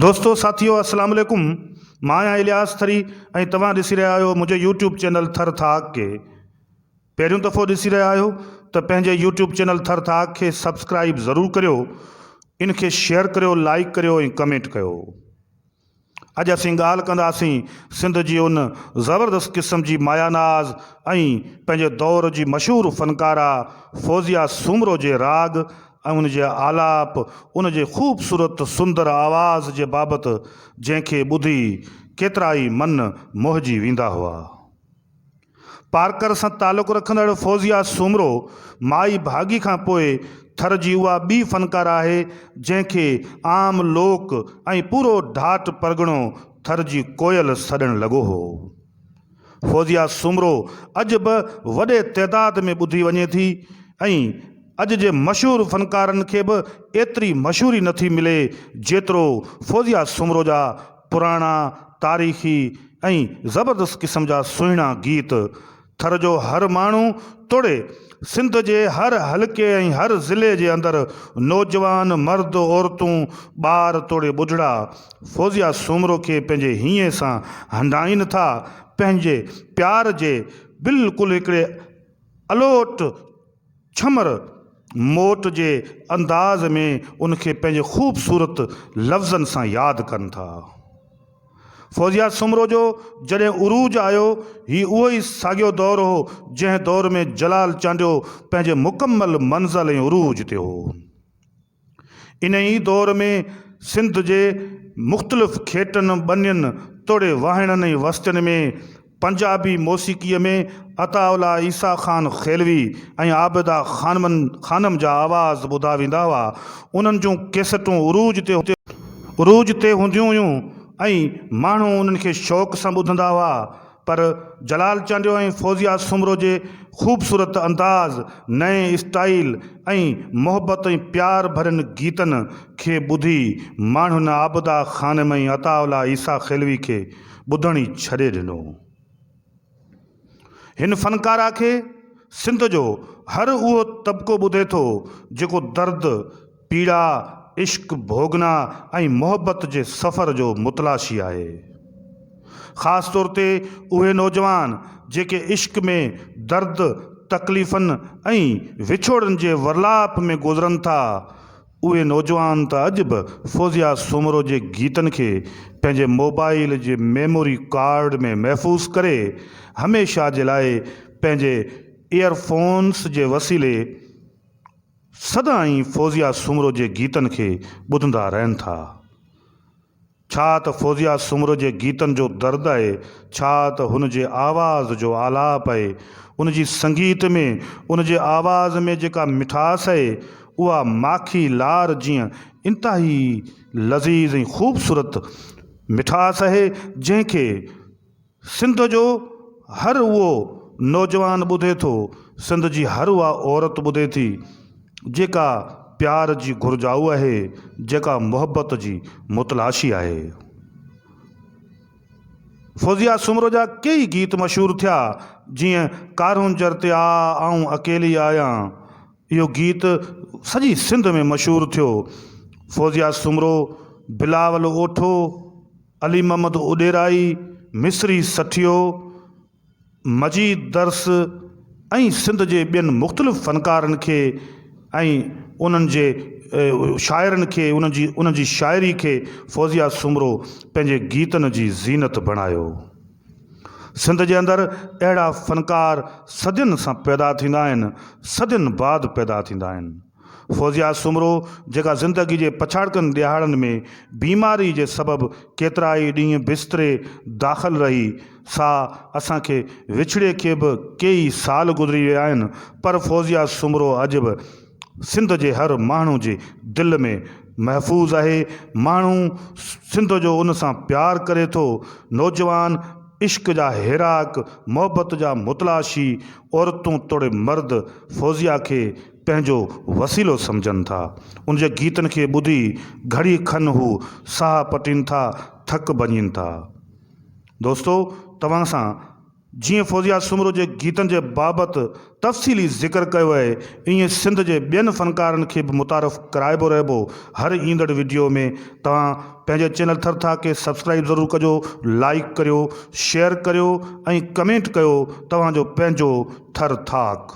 دوستو ساٿيو السلام عليڪم مان آهيان الياس ٿري ۽ توهان ڏسي رهيا آهيو منهنجي يوٽيوب چينل ٿر ٿاڪ کي پهريون دفعو ڏسي رهيا آهيو ته پنهنجي يوٽيوب چينل ٿر ٿاڪ کي سبسڪرائب ضرور ڪريو ان کي شيئر ڪريو لائيڪ ڪريو ۽ ڪمينٽ ڪيو اڄ اسين ڳالهه ڪنداسين سنڌ جي ان زبردست قسم جي مايا ناز ۽ پنهنجي دور جي مشهور فنڪاره فوزيه سومرو جي راڳ ۽ ان جي آلاپ، ان جي خوبصورت سندر آواز جي بابت جنهن کي ٻڌي ڪيترائي من موهجي ويندا هئا. پارڪر سان تعلق رکندڙ فوزيه سومرو مائي ڀاڳي کان پوء ٿر جي اها ٻي فنڪاره آهي جنهن کي عام لوڪ ۽ پورو ڍاٽ پرڳڻو ٿر جي ڪوئل سڏڻ لڳو هو. فوزيه سومرو اڄ به وڏي تعداد ۾ ٻڌي وڃي ٿي ۽ اڄ جي مشهور فنڪارن کي به ايتري مشهوري نه ٿي ملي جيترو فوزيه سومرو جا پراڻا تاريخي ۽ زبردست قسم جا سهڻا گيت ٿر جو هر ماڻهو توڙي سنڌ جي هر حلقي ۽ هر ضلعي جي اندر نوجوان، مرد، عورتون، ٻار توڙي ٻڍڙا فوزيا سومرو کي پنهنجي هينئين سان هنڊائين ٿا، پنهنجي پيار جي بلڪل هڪڙي الوٽ ڇمر موٽ جي انداز ۾ ان کي پنهنجي خوبصورت لفظن سان ياد ڪن ٿا. فوزيا سومرو جو جڏهن عروج آيو، هي اهو ئي ساڳيو دور هو، جنهن دور ۾ جلال چانڊيو پنهنجي مڪمل منزل ۽ عروج تي هو. انهيء ئي دور ۾ سنڌ جي مختلف کيٽن، ٻنين توڙي واهڻن ۽ وستين ۾، پنجابي موسيقيء ۾ عطاء الله عيسيٰ خان خيلوي ۽ عابده خانمن خانم جا آواز ٻڌا ويندا هئا. انهن جون ڪيسٽون عروج تي عروج تي هونديون هيون ۽ ماڻهو انهن کي شوق سان ٻڌندا هئا. پر جلال چانڊيو ۽ فوزيه سومرو جي خوبصورت انداز، نئين اسٽائيل ۽ محبت ۽ پيار ڀرين گيتن کي ٻڌي ماڻهن عابده خانم ۽ عطاء الله عيسيٰ خيلوي کي ٻڌڻ ئي ڇڏي ڏنو هو. هن فنڪار آکي سنڌ جو هر اهو طبقو ٻڌي ٿو جيڪو درد، پيڙا، عشق، ڀوڳنا ۽ محبت جي سفر جو متلاشي آهي. خاص طور تي اهي نوجوان جيڪي عشق ۾ درد، تڪليفن ۽ وڇوڙن جي ورلاپ ۾ گذرن ٿا، اهي نوجوان ته اڄ به فوزيا سومرو جي گيتن کي پنهنجي موبائيل جي ميموري ڪارڊ ۾ محفوظ ڪري هميشه جي لاء پنهنجي ايئر فونس جي وسيلي سدائين فوزيا سومرو جي گيتن کي ٻڌندا رهن ٿا. ڇا ته فوزيا سومرو جي گيتن جو درد آهي، ڇا ته هن جي آواز جو آلاپ آهي، ان جي سنگيت ۾، ان جي آواز ۾ جيڪا مٺاس آهي، اها ماکي لار جيئن انتهائي لذيذ ۽ خوبصورت مٺاس آهي، جنهن کي. سنڌ جو هر اهو نوجوان ٻڌي ٿو، سنڌ جي هر اها عورت ٻڌي ٿي، جيڪا پيار جي گهرجائو آهي، جيڪا محبت جي متلاشي آهي. فوزيه سومرو جا ڪيئي گيت مشهور ٿيا، جيئن ڪارونجهر تي آء آئون اڪيلي آهيان، اهو گيت سڄي سنڌ ۾ مشهور ٿيو. فوزيه سومرو، بلاول اوٺو، علي محمد اڏيرائي، مصري سٺيو، مجيد درس ۽ سنڌ جي ٻين مختلف فنڪارن کي ۽ انهن جي شاعرن کي انهن جي شاعري کي فوزيه سومرو پنهنجي گيتن جي زينت بڻايو. سنڌ جي اندر اهڙا فنڪار صدين سان پيدا ٿيندا آهن، صدين بعد پيدا ٿيندا آهن. فوزيا سومرو جيڪا زندگي جي پڇاڙڪن ڏهاڙن ۾ بيماري جي سبب ڪيترائي ڏينهن بستري داخل رهي سا اسان کي وڇڙي کي به ڪيئي سال گذري ويا آهن پر فوزيا سومرو اڄ به سنڌ جي هر ماڻهو جي دل ۾ محفوظ اهي ماڻهو سنڌ جو ان سان پيار ڪري ٿو نوجوان عشق جا هيراڪ محبت جا متلاشي عورتون توڙي مرد فوزيا کي پنهنجو وسيلو سمجهن ٿا. ان جي گيتن کي ٻڌي گهڙي کن هو ساهه پٽين ٿا، ٿڪ ڀڃين ٿا. دوستو توهان سان جيئن فوزيه سومرو جي گيتن جي بابت تفصيلي ذڪر ڪيو اهي ائين سنڌ جي ٻين فنڪارن کي به متعارف ڪرائبو رهبو. هر ايندڙ وڊيو ۾ توهان پنهنجي چينل ٿر ٿا کي سبسڪرائب ضرور ڪجو، لائيڪ ڪريو، شيئر ڪريو ۽ ڪمينٽ ڪيو توهان جو پنهنجو ٿر ٿاڪ.